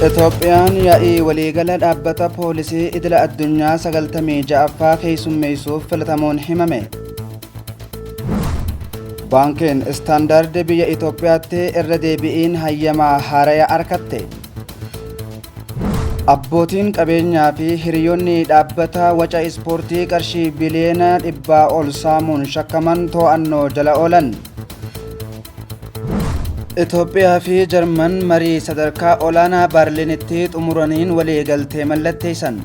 Itoophiyaan yaa'ii waliigala dhaabbata poolisii idila addunyaa 96ffaa keessummeessuuf filatamuun himame. Baankiin Istaandaard biyya Itoophiyaatti irra deebi'iin hayyamaa haaraya argatte. Abbootiin qabeenyaa fi hiriyoonni dhaabbata waca ispoortii qarshii biliyoona dhibbaa ol saamuun shakkaman to'annoo jala oolan. Itoophiyaa fi Jarman marii sadarkaa olaanaa Baarliinitti xumuraniin waliigaltee mallatteessan.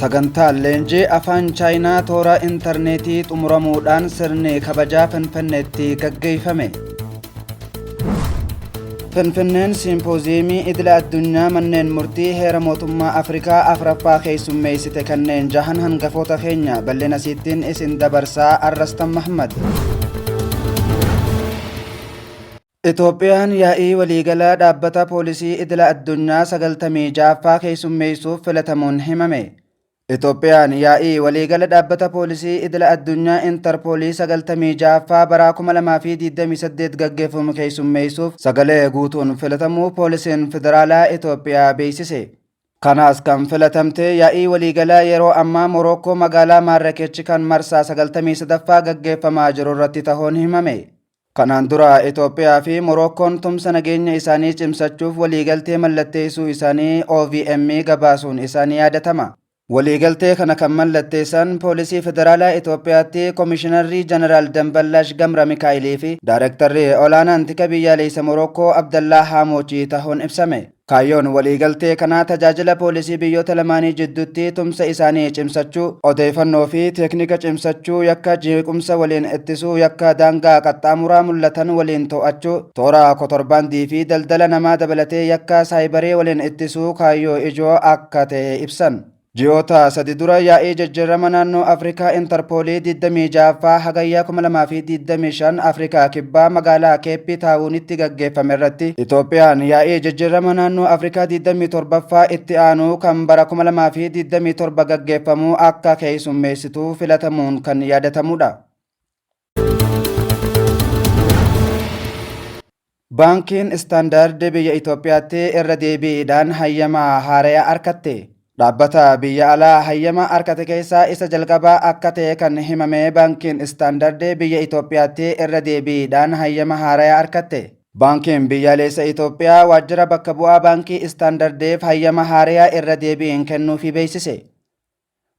Sagantaan leenjii afaan Chaayinaa toora intarneetii xumuramuudhaan sirni kabajaa Finfinneetti gaggeeffame. Finfinneen Siimpooziyeemii Idila Addunyaa Manneen Murtii Heera Mootummaa Afrikaa afraffaa keessummeessite kanneen jahan hangafoota keenya bal'ina siittiin isin dabarsaa Arrastan Mahmad. Itoophiyaan yaa'ii waliigalaa dhaabbata poolisii idila addunyaa 96ffaa keessummeessuuf filatamuun himame. Itoophiyaan yaa'ii waliigala dhaabbata poolisii idila addunyaa Intarpoolii 96ffaa baraa 2028 gaggeeffamu keessummeessuuf sagalee guutuun filatamuu Poolisiin Federaalaa Itoophiyaa beeksise. Kanaas kan filatamte yaa'ii waliigalaa yeroo ammaa Morookkoo magaalaa Maarrakechi kan marsaa 93ffaa gaggeeffamaa jiru irratti tahuun himame. Kanaan dura Itoophiyaa fi Morookkoon tumsa nageenya isaanii cimsachuuf waliigaltee mallatteessuu isaanii OVM gabaasuun isaa ni yaadatama. Waliigaltee kana kan mallatteessan Poolisii Federaalaa Itoophiyaatti Komishinarri Jeneraal Damballaash Gamra Mikaa'ilii fi Daarektarri Olaanaan Tika Biyyaaleessa Morookkoo Abdallaa Haamoochii tahuun ibsame. Kaayyoon waliigaltee kanaa tajaajila poolisii biyyoota lamaanii jidduutti tumsa isaanii cimsachuu, odeeyfannoo fi teeknika cimsachuu, yakka jeequmsa waliin ittisuu, yakka daangaa qaxxaamuraa mul'atan waliin to'achuu, toora kotorbaandii fi daldala namaa dabalatee yakka saayibarii waliin ittisuu kaayyoo ijoo akka ta'e ibsan. Ji'oota sadi dura yaa'ii jijjiirama naannoo Afrikaa Intarpoolii 26ffaa Hagayyaa 2025 Afrikaa Kibbaa magaalaa Keeppii Taawunitti gaggeeffame irratti Itoophiyaan yaa'ii jijjiirama naannoo Afrikaa 27ffaa itti aanu kan bara 2027 gaggeeffamu akka keessummeessitu filatamuun kan yaadatamudha. Baankiin Istaandaard biyya Itoophiyaatti irra deebiidhaan hayyama haaraya arkatte. Dhaabbata biyya alaa hayyama arkate keessaa isa jalqabaa akka ta'e kan himame Baankiin Istaandaard biyya Itoophiyaatti irra deebiidhaan hayyama haaraya arkatte. Baankiin biyyaalessa Itoophiyaa waajjira bakka bu'aa Baankii Istaandardeef hayyama haaraya irra deebiin kennuufii beeksise.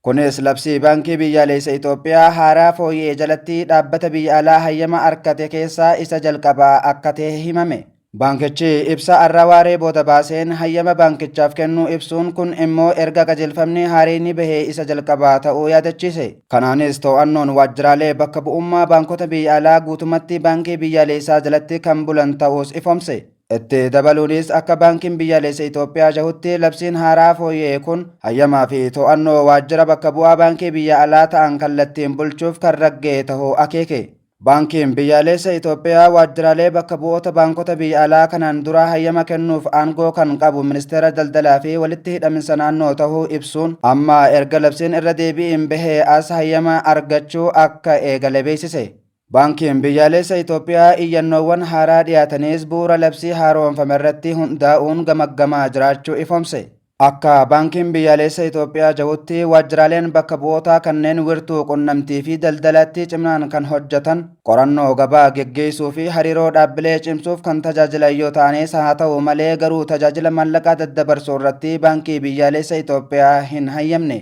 Kunis labsii Baankii Biyyaaleessa Itoophiyaa haaraa fooyya'e jalatti dhaabbata biyya alaa hayyama arkate keessaa isa jalqabaa akka ta'e himame. Baankichi ibsa arra waaree booda baaseen hayyama baankichaaf kennuu ibsuun kun immoo erga qajeelfamni haareyni bahee isa jalqabaa ta'uu yaadachiise. Kanaanis too'annoon waajjiraalee bakka bu'ummaa baankota biyya alaa guutumatti Baankii Biyyaaleessaa jalatti kan bulan ta'uus ifoomse. Itti dabaluunis akka Baankiin Biyyaalessa Itoophiyaa jahutti labsiin haaraa fooyya'e kun hayyamaa fi to'annoo waajjira bakka bu'aa baankii biyya alaa ta'an kallattiin bulchuuf kan ragga'e tahuu akeeke. Baankiin Biyyaalessa Itoophiyaa waajjiraalee bakka bu'oota baankota biyya alaa kanaan duraa hayyama kennuuf aangoo kan qabu Ministeera Daldalaa fi Walitti Hidhaminsa Naannoo tahuu ibsuun, amma erga labsiin irra deebi'iin bahee as hayyama argachuu akka eegale beeksise. Baankiin Biyyaalessa Itoophiyaa iyyannoowwan haaraa dhiyaatanis bu'uura labsii haaromfame irratti hundaa'uun gamaggamaa jiraachuu ifoomse. Akka Baankiin Biyyaalessa Itoophiyaa jahutti waajjiraaleen bakka bu'ootaa kanneen wirtuu qunnamtii fi daldalaatti cimnaan kan hojjatan, qorannoo gabaa geggeessuu fi hariiroo dhaabbilee cimsuuf kan tajaajilan yoo ta'anis haa ta'u malee garuu tajaajila maallaqaa daddabarsuu irratti Baankii Biyyaalessa Itoophiyaa hin hayyamne.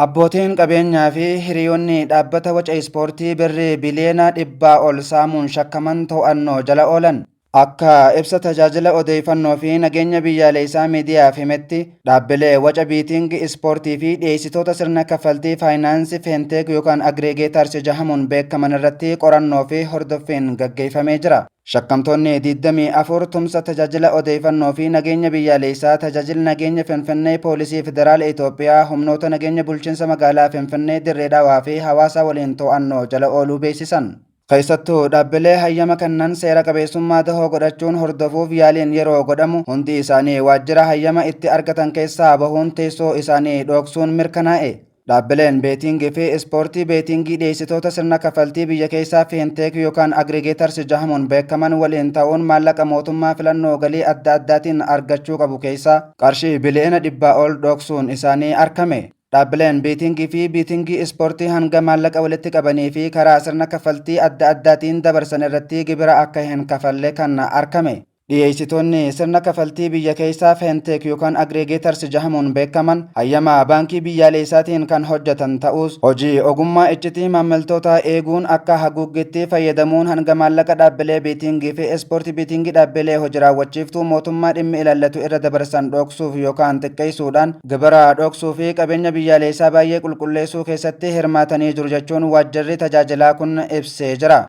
Abbootiin qabeenyaa fi hiriyoonni dhaabbata waca ispoortii birrii biliyoona dhibbaa ol saamuun shakkaman to'annoo jala oolan. Akka ibsa tajaajila odeeffannoo fi nageenya biyyaalessaa miidiyaaf himetti dhaabbilee waca biitingi ispoortii fi dhiyeessitoota sirna kaffaltii faayinaansii feenteek yookaan agreegeetaarsi jahamuun beekaman irratti qorannoo fi hordoffiin gaggeeffamee jira. Shakkamtoonni 24 tumsa tajaajila odeeffannoo fi nageenya biyyaaleessaa tajaajil nageenya Finfinnee Poolisii Federaala Itoophiyaa humnoota nageenya bulchiinsa magaalaa Finfinnee Dirree Dhawaa fi hawaasaa waliin to'annoo jala ooluu beeksisan. Keessattuu dhaabbilee hayyama kennan seera qabeessummaa dahoo godhachuun hordofuuf yaaliin yeroo godhamu hundi isaanii waajjira hayyama itti argatan keessaa bahuun teessoo isaanii dhooksuun mirkanaa'e. Dhaabbileen beetiingii fi ispoortii beetiingii dhiyeessitoota sirna kafaltii biyya keessaa fiinteek yookaan agrigeetars jahamuun beekaman waliin ta'uun maallaqa mootummaa filannoo galii adda addaatiin argachuu qabu keessaa qarshii biliyoona dhibbaa ol dhoksuun isaanii arkame. Dhaabbileen biitiingii fi biitingii ispoortii hanga maallaqa walitti qabanii fi karaa sirna kafaltii adda addaatiin dabarsan irratti gibira akka hin kafalle kan arkame. Dhiyeessitoonni sirna kafaltii biyya keessaa fintech yookaan aggregators jahamuun beekaman hayyama baankii biyyaaleessaatiin kan hojjatan ta'uus hojii ogummaa iccitii maammiltootaa eeguun akka haguuggiitti fayyadamuun hanga maallaqa dhaabbilee biitiingii fi ispoortii biitiingii dhaabbilee hoji raawwachiiftuu mootummaa dhimmi ilaallatu irra dabarsan dhooksuuf yookaan xiqqeessuudhaan gibira dhooksuu fi qabeenya biyyaaleessaa baay'ee qulqulleessuu keessatti hirmaatanii jiru jechuun waajjirri tajaajilaa kun ibsee jira.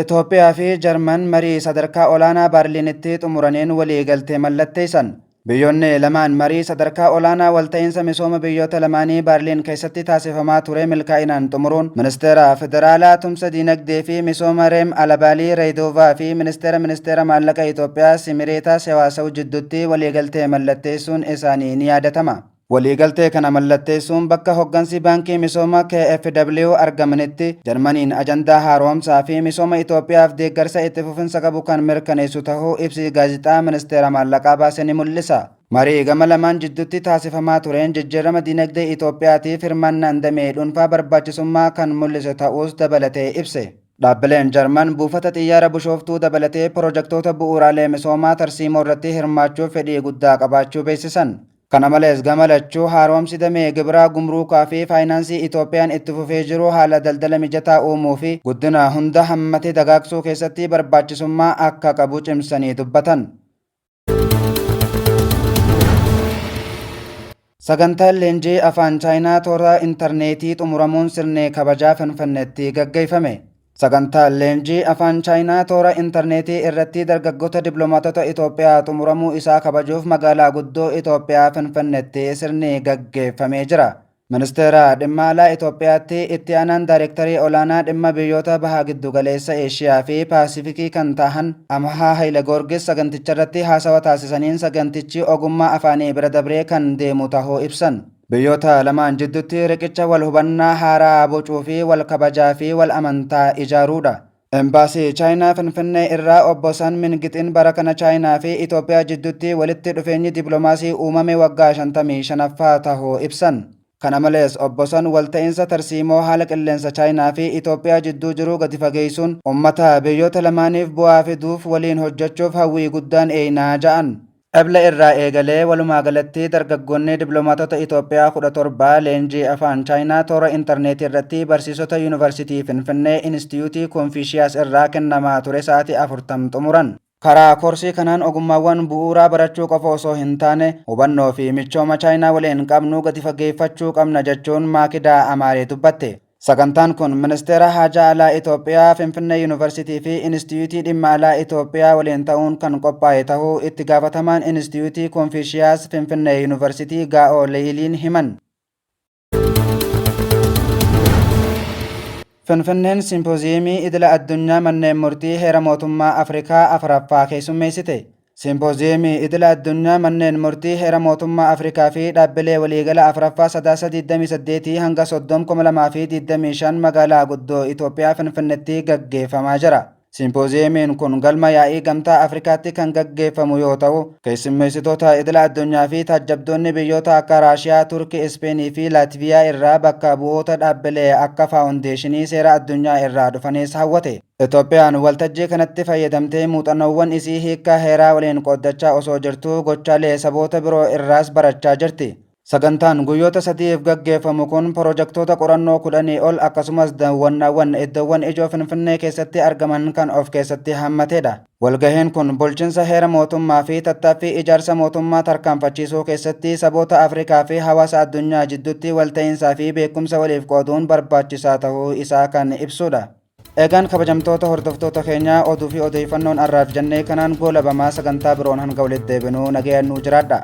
Itoophiyaa fi Jarman marii sadarkaa olaanaa Baarliinitti xumuraneen waliigaltee mallatteessan. Biyyoonni lamaan marii sadarkaa olaanaa walta'iinsa misooma biyyoota lamaanii Baarliin keessatti taasifamaa ture milkaa'inaan xumuruun ministeera federaalaa tumsa diinagdee fi misooma Reem Alabaalii Reedoovaa fi ministeera ministeera maallaqa Itoophiyaa Simireetaa Sewaasaw jidduutti waliigaltee mallatteessuun isaanii ni yaadatama. Waliigaltee kana mallatteessuun bakka hoggansi Baankii Misooma KFW argamanitti Jarmaniin ajandaa haaromsaa fi misooma Itoophiyaaf deeggarsa itti fufinsa qabu kan mirkaneessu tahuu ibsi Gaazexaa Ministeera Maallaqaa baase ni mul'isa. Marii gama lamaan jidduutti taasifamaa tureen jijjiirama diinagdee Itoophiyaatiif hirmaannaan damee dhuunfaa barbaachisummaa kan mul'ise ta'uus dabalatee ibse. Dhaabbileen Jarman buufata xiyyaara Bushooftuu dabalatee pirojektoota bu'uuraalee misoomaa tarsiimoo irratti hirmaachuuf fedhii guddaa qabaachuu beeksisan. Kana malees gama lachuu haaromsi damee gibiraa, gumruukaa fi faayinaansii Itoophiyaan itti fufee jiru haala daldala mijataa uumuu fi guddina hunda hammate dagaagsuu keessatti barbaachisummaa akka qabu cimsanii dubbatan. Sagantaan leenjii Afaan Chaayinaa toora intarneetii xumuramuun sirni kabajaa Finfinneetti gaggeeffame. Sagantaan leenjii Afaan Chaayinaa toora interneetii irratti dargaggoota diplomaatota Itoophiyaa xumuramuu isaa kabajuuf magaalaa guddoo Itoophiyaa Finfinneetti sirni gaggeeffamee jira. Ministeera Dhimma Alaa Itoophiyaatti Itti Aanaan Daarektarii Olaanaa Dhimma Biyyoota Baha Giddugaleessa Eeshiyaa fi Paasifikii kan tahan Amahaa Hayilegoorgis saganticharratti haasawa taasisaniin sagantichi ogummaa afaanii bira dabree kan deemu tahuu ibsan. Biyyoota lamaan jiddutti riqicha wal hubannaa haaraa bocuu fi wal kabajaa fi wal amantaa ijaaruudha. Embaasii Chaayinaa Finfinnee irraa Obbo San Mingixiin bara kana Chaayinaa fi Itoophiyaa jiddutti walitti dhufeenyi diplomaasii uumame waggaa 55ffaa tahuu ibsan. Kana malees Obbo San walta'iinsa tarsiimoo haala qilleensa Chaayinaa fi Itoophiyaa jidduu jiru gadi fageessuun ummata biyyoota lamaaniif bu'aa fiduuf waliin hojjachuuf hawwii guddaan eeyna ja'an. Ebla irraa eegalee walumaa galatti dargaggoonni diplomaatota Itoophiyaa 17 leenjii Afaan Chaayinaa toora interneetii irratti barsiisota Yuunivarsitii Finfinnee Inistiyuutii Konfiishiyaas irraa kennamaa ture sa'aatii 40 xumuran. Karaa koorsii kanaan ogummaawwan bu'uuraa barachuu qofa osoo hin taane, hubannoo fi michooma Chaayinaa waliin qabnu gadi fageeffachuu qabna jechuun Maakidaa Amaaree dubbatte. Sagantaan kun Ministeera Haajaa Alaa Itoophiyaa, Finfinnee Yuunivarsiitii fi Inistiyuutii Dhimma Alaa Itoophiyaa waliin ta'uun kan qophaa'e ta'uu Itti Gaafatamaan Inistiyuutii Konfiishiyaas Finfinnee Yuunivarsiitii Gaa'oo Lee'iliin himan. Finfinneen Simpooziyeemii Idila Addunyaa Manneen Murtii Heera Mootummaa Afrikaa 4ffaa keessummeessite. Simpooziyemii idila addunyaa manneen murtii heera mootummaa Afrikaa fi dhaabbilee waliigala afraffaa sadaasa 28 hanga 30 2025 magaalaa guddoo Itoophiyaa Finfinnetti gaggeeffamaa jira. Simpooziyemiin kun galma yaa'ii gamtaa Afrikaatti kan gaggeeffamu yoo ta'u, keessummeessitoota idila addunyaa fi taajjabdoonni biyyoota akka Raashiyaa, Turki, Ispeenii fi Laatviyaa irraa bakka bu'oota dhaabbilee akka faawundeeshinii seera addunyaa irraa dhufanis hawwate. Itoophiyaan waltajjii kanatti fayyadamtee muuxannoowwan isii hiikkaa heeraa waliin qooddachaa osoo jirtuu gochaalee saboota biroo irraas barachaa jirti. Sagantaan guyyoota sadi'iif gaggeeffamu kun porojektoota qorannoo kudhanii ol akkasumas dawwannaawwan iddoowwan ijoo Finfinnee keessatti argaman kan of keessatti hammateedha. Walgahiin kun bulchinsa heera mootummaa fi tattaaffii ijaarsa mootummaa tarkaanfachiisuu keessatti saboota Afrikaa fi hawaasa addunyaa jidduutti walta'iinsaa fi beekumsa waliif qooduun barbaachisaa tahuu isaa kan ibsuudha. Egaan kabajamtoota hordoftoota keenya oduu fi odeeyfannoon arraaf jannee kanaan goolabamaa sagantaa biroon hanga walitti deebinuu nagayaan nuu jiraadha.